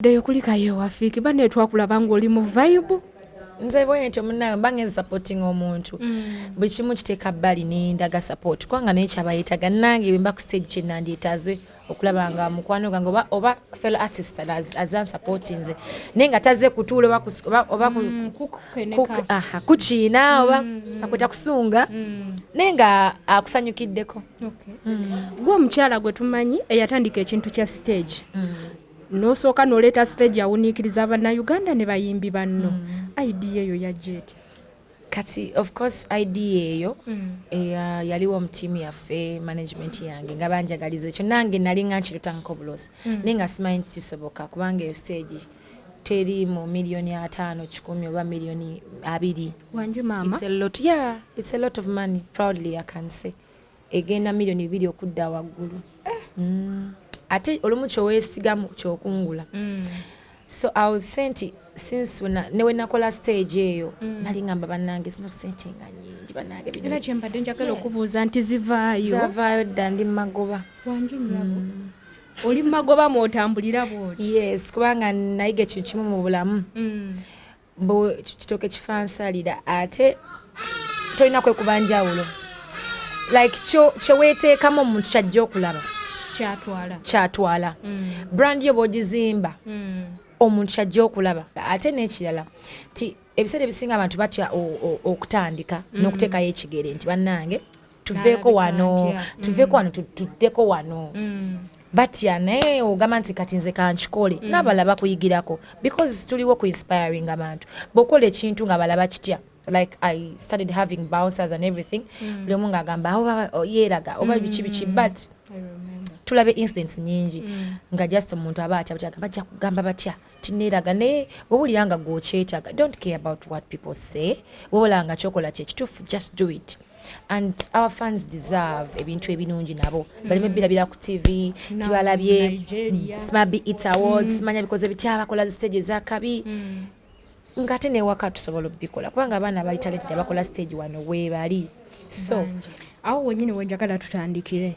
ddeyo kulikayo ewafiiki bane twakulaba ng'oli mu vayibu nze bwentyo munange mba ngenza supporting omuntu mm. buli kimu kiteeka bbali nendaga support kubanga naye kyabayetaga nange bwemba ku stage kyenandyetaze okulaba nga mukwano gange oba, oba fellow artist azan support nze naye nga taze kutuula oba mm, kukiina mm, oba mm. akweta kusunga naye nga akusanyukiddeko gwe omukyala gwe tumanyi eyatandika ekintu kya stage Nosooka noleeta stage awuniikiriza bannayuganda ne bayimbi banno. Mm. Idea eyo yajja etya? Kati of course idea eyo mm. eya yaliwo mu tiimu yaffe management yange nga banjagaliza ekyo nange nali nga nkirotangako obulosi mm. naye nga simanyi nti kisoboka kubanga eyo stage teri mu miliyoni ataano kikumi oba miliyoni abiri. Wanju maama. It's a lot, yeah, it's a lot of money, proudly I can say. egenda milioni bibiri okudda waggulu eh. mm. ate olumu kyowesigamu kyokungula mm. so i would say nti since newenakola stage eyo mm. nali ngamba banange zino sente nga nyingi banange era kyembadde njagala okubuuza nti zivaayo zavaayo dda ndi mumagoba wangi nyabo mm. oli mumagoba mwotambulira bwoti yes kubanga nayiga ekintu kimu mu bulamu mm. mbu kitoke kifansalira ate tolina kwekuba njawulo like kyeweteekamu omuntu kyajja okulaba kyatwala mm. brand yo bwogizimba mm. omuntu kyajja okulaba ate n'ekirala nti ebiseera ebisinga abantu batya okutandika mm. n'okuteekayo ekigere nti bannange tuveeko wano tuveeko wano mm. tuddeko wano mm. batya naye ogamba nti kati nze kankikole mm. nabala bakuyigirako because tuliwo ku inspiring abantu bwokola ekintu nga bala bakitya like i started having bouncers and everything mm. buli omu ngaagamba awo oh, yeeraga oba mm. biki biki but tulabe incidents nyingi mm. nga just omuntu aba atya batya bajja kugamba batya tineeraga naye wewulira nga gwokyetyaga don't care about what people say wewulanga kyokola kyekituufu just do it and our fans deserve ebintu ebirungi nabo baleme mm. birabira ku tv tibalabye smabi it awards mm. manya bikoze bitya bakola zi stage ezakabi mm. ngate newaka tusobola obikola kubanga abaana abali talented abakola stage wano webali so awo wenyini wenjagala tutandikire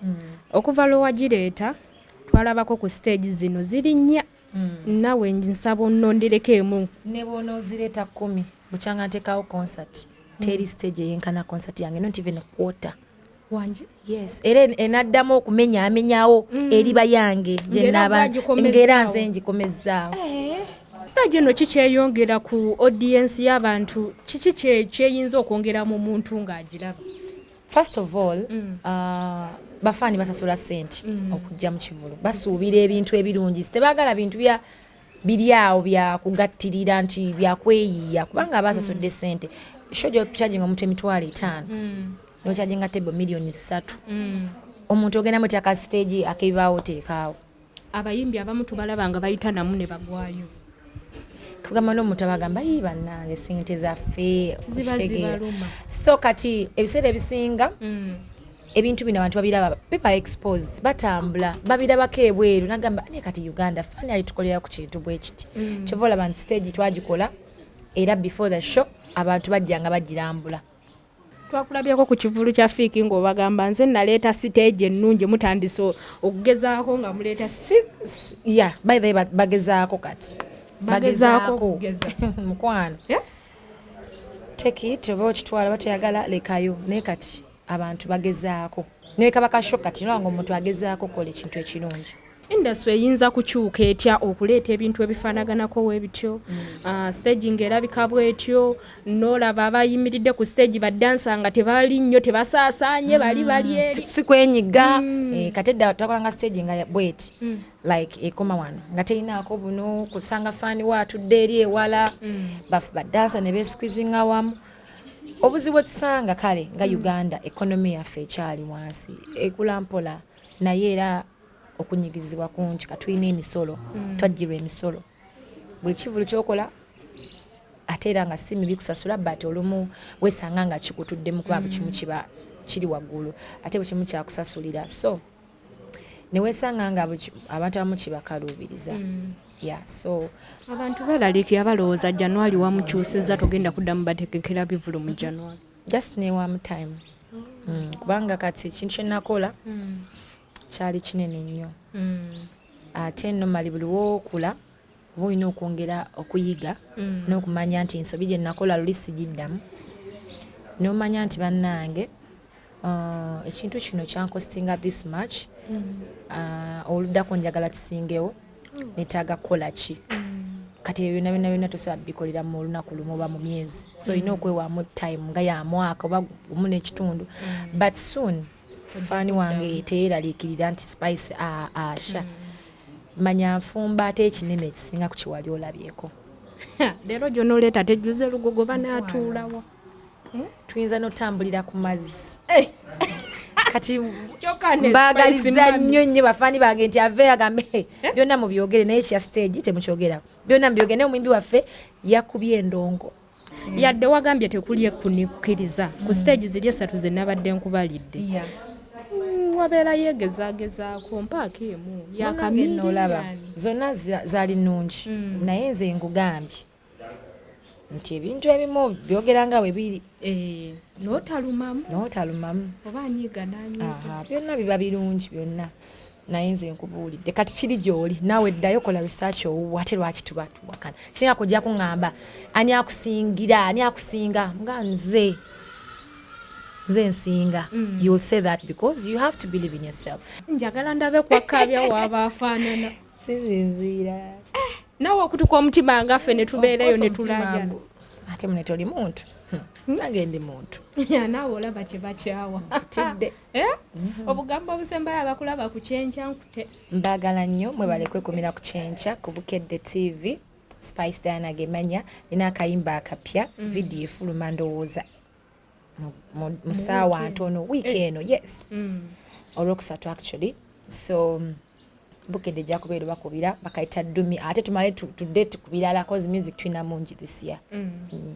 okuva lwewagireeta twalabako ku stage zino ziri nnya mm. nawe nsaba onondereko emu nebwonozireeta kumi bukyanga ntekawo concert mm. teri stage eyenkana concert yange not even quarter wangi yes era enaddamu okumenya amenyawo mm. eriba yange gyenaba ngera nze ngikomezaawo eh. stage eno kikyeyongera ku audience y'abantu kiki kyeyinza okwongera mu muntu ng'agiraba first of all mm. uh, bafaani basasula sente mm. okujja mu kivulu basuubira ebintu ebirungi tebaagala bintu bya biri awo byakugattirira nti byakweyiiya kubanga aba asasudde mm. sente shojo charging omuntu emitwalo etaano mm. nocharginga table millioni ssatu mm. omuntu ogenda mutyaka stage akebibaawo teekaawo abayimbi abamu tubalaba nga bayita namu ne bagwayo tugamba n'omuntu abagamba yi bannange sente zaffe so kati ebiseera ebisinga mm. ebintu bino abantu babiraba biba exposed batambula babirabako ebweru nagamba ne kati uganda fani ali tukolera ku kintu bwe kiti mm. kyova olaba nti stage twagikola era before the show abantu bajjanga bagirambula twakulabyeko ku kivulu kya fiiki ng'obagamba nze naleeta siteegi ennungi mutandise okugezaako nga muleeta ya bayhe bagezaako kati bagezaako mukwano teki teba okitwala batayagala lekayo naye kati abantu bagezaako nekaba kasho kati nolanga omuntu agezaako okukola ekintu ekirungi industry eyinza kukyuka etya okuleeta ebintu ebifaanaganako webityo mm. ah, stage nga erabika bwetyo nolaba abayimiridde ku stage badansa nga tebali nnyo tebasaasaanye mm. bali bali eri si kwenyiga mm. eh, kati edda twakolanga stage nga bweti like ekoma wano nga terinaako buno kusanga faani we atudde eri ewala badansa ne besikwizinga wamu obuzibu etusanga kale nga uganda ekonomi yaffe ekyali wansi ekula mpola naye era okunyigizibwa kungi katulina emisolo mm. twajjirwa emisolo buli kivulu kyokola ate era nga si mibi kusasula but olumu wesanga nga kikutuddemu kuba buli kimu kiba kiri waggulu ate buli kimu kyakusasulira so newesanga nga abantu abamu kibakaluubiriza mm. yeah, so abantu balalikira balowooza januari wamukyusiza togenda kuddamu batekekera bivulu mu januari just newamu time mm. kubanga kati kintu kyenakola mm. kyali kinene nnyo mm. ate no mali buli wokula oba olina okwongera okuyiga mm. n'okumanya nti ensobi gye nakola luli sigiddamu n'omanya nti bannange uh, ekintu kino kyankostinga this much mm. uh, oluddako njagala kisingewo mm. netaaga kukola ki kati ebyo byona byona byona tosobola bikolera mu olunaku lumu oba mu myezi so olina okwewaamu time nga ya mwaka oba omu n'ekitundu but soon faani wange teyeraliikirira nti spice asha manya nfumba ate ekinene ekisinga ku kiwali olabyeko leero gyonoleeta tejjuza olugogo banaatuulawa hmm? tuyinza notambulira ku mazzi eh! kati mbagaliza nnyo nnyo bafaani bange nti ave agambe eh? byonna mubyogere naye kya stage temukyogerako byonna mubyogere naye omuyimbi waffe yakubye endongo yadde wagambye tekuli ekunikkiriza ku siteegi ziri esatu ze nabadde nkubalidde mm, wabeera yegezagezaako mpaaka emu yakamiriolaba zonna zaali nnungi mm. naye nze ngugambye nti ebintu ebimu byogera nga bwe biri eh, notalumamu notalumamu oba anyiiga nanyiiga byonna biba birungi byonna naye nze nkubuulidde kati kiri gyoli naawe ddayo kola research owuwo ate lwaki tuba tuwakana kirina kujja kuŋŋamba ani akusingira ani akusinga nga nze nze nsinga mm. you'll say that because you have to believe in yourself njagala ndabe kwakabya waaba afaanana sizinziira eh, nawe okutuka omutima ngaffe ne tubeerayo ne tulaja ate mune toli muntu hmm. nange ndi muntu nawe olaba kye bakyawa tidde Eh? Mhm. obugambo obusembayo abakulaba ku kyenkya nkute mbagala nnyo mwebale kwekumira ku kyenkya ku bukedde tv spice diana gemanya nina akayimba akapya mhm. vidiyo efuluma ndowooza mu saawa ntono wiiki eh. eno yes mm. olwokusatu actually so bukedde ejja kubeera obakubira bakayita dumi ate tumale tudde tukubirala cause music tulina mungi this year mm. Mm.